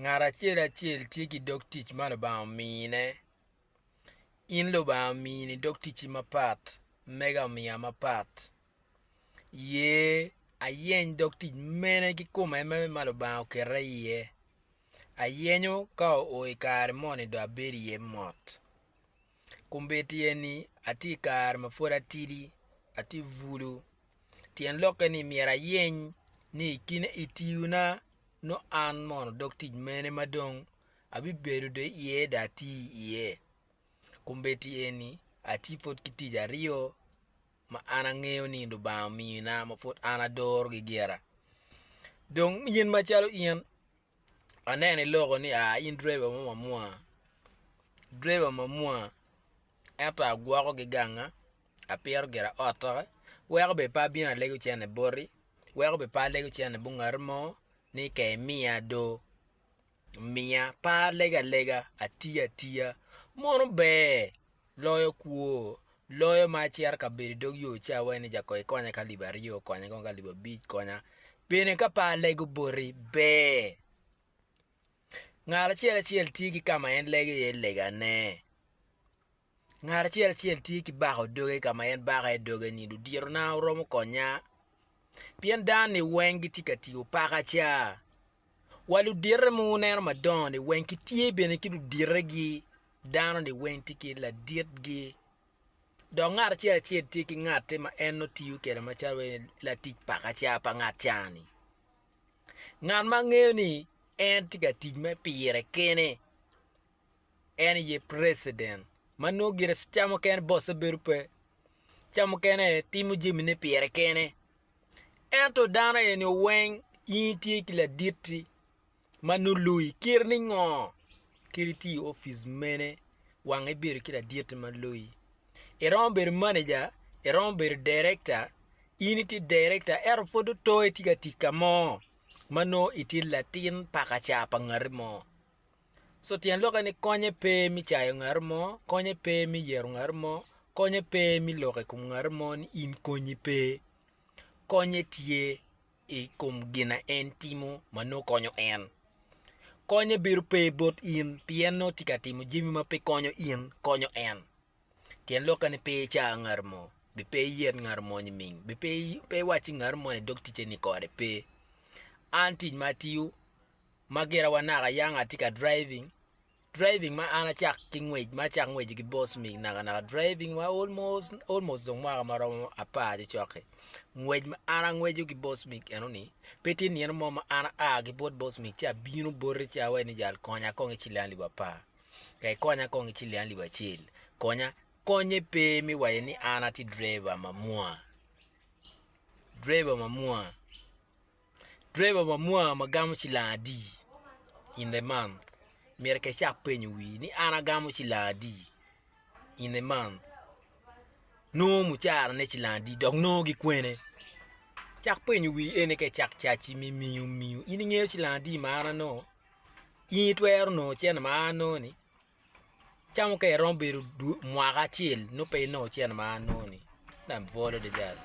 Ngat acel acel tye ki dog tic ma Lubanga omine. In Lubanga omini dog ticci mapat, mega omiya mapat. Ye ayeny dog tic mene ki kome mene ma Lubanga oketa iye? Ayenyo ka oo i kare moni dong abedo iye mot. Kombeddi eni atye i kare ma pwod atidi, atye bulu. Tyen lokke ni myero ayeny ni i kine i tiyona nongo an mono dog tic mene ma dong abibedo do iye do ati iye. Kombeddi eni atye pwod ki tic aryo ma an angeyo ni Lubanga omina ma pwod an adorogi gira. Dong in macalo in. aneno i loko ni aa in driver mo mamwa driver mamwa ento agwoko gi ganga apito gira otta weko bene pe abino alego cene boti weko bene pe alego cene bot ngat mo ni ka imiya do miya pe alega alega atiya atiya mono ber Loyo kwo. Loyo ma acito ka bedo i dog yo ci awe ni ja koi konya ka libo aryo konya kong ka libo abic konya bene ka pe alego boti ber ngat acel acel tye ki ka ma en lego iye legane ngat acel acel tye ki bako doge ka ma en bako iye doge ni ludyerona wuromo konya pien dano ni weng gitye ka tiyo paka ca. wa ludite ma wuneno madongo-ni weng gitye bene ki luditegi, dano-ni weng tye ki laditgi, dok ngat acel acel tye ki ngatte ma en nongo tiyo kwede macalo wai latic pakaca pa ngat ca-ni. Ngat ma angeyo ni en tye ka tic me pire kene en aye preciden ma nongo gire ca mukene bosse bedo pe, ca mukene timo jamine pire kene. Ento dano aye nio weng in itye ki laditti ma nongo loyi kit ni ngo kit itye i opic mene wang ibedo ki laditti ma loyi iromo bedo manager iromo bedo director in itye director ento pud oto itye ka tic kamo ma nongo itye latin pakaca pa ngati mo. So tyen lokke ni konye pe me cayo ngat mo, konye pe me yero ngat mo, konye pe me lok i kom ngat mo ni in konyi pe. Konye tye i kom gin ma en timo ma nongo konyo en. Konye bedo pe bot in pien nongo tye ka timo jami ma pe konyo in, konyo en. Tyen lokke ni pe ica ngat mo, be pe iyet ngat mo nyiming, be pe iwac ki ngat mo ni dog ticce-ni kode, pe. An tic ma atiyo. Ma gira wa naka young atye ka driving, driving ma an acak ki ngwec ma acak ngweco ki boss mig naka naka driving wa almost almost dong mwaka ma romo apar cocok-ki ngwec ma an angweco ki boss mig enoni pe tye nino mo ma an aa ki bot boss mig ci abino boti ci awaci ni jal konya kong ki ciling alip apar ka ikonya kong ki ciling alip acel konya, konye pe me waco ni an atye driver mamwonya driver mamwonya. Driver ma mwa ma gamo cilang adi in the month myero ke icak penyo wii ni an agamo cilang adi in the month nongo mucara ne cilang adi dok nongo gi kwene cak penyo wii ene ka icak caci me miyo miyo in ingeyo cilang adi ma an anongo in itwero nongo cene ma an anongo ni camo ka iromo bedo mwaka acel nongo pe inongo cene ma an anongo ni en aye bwolo adada.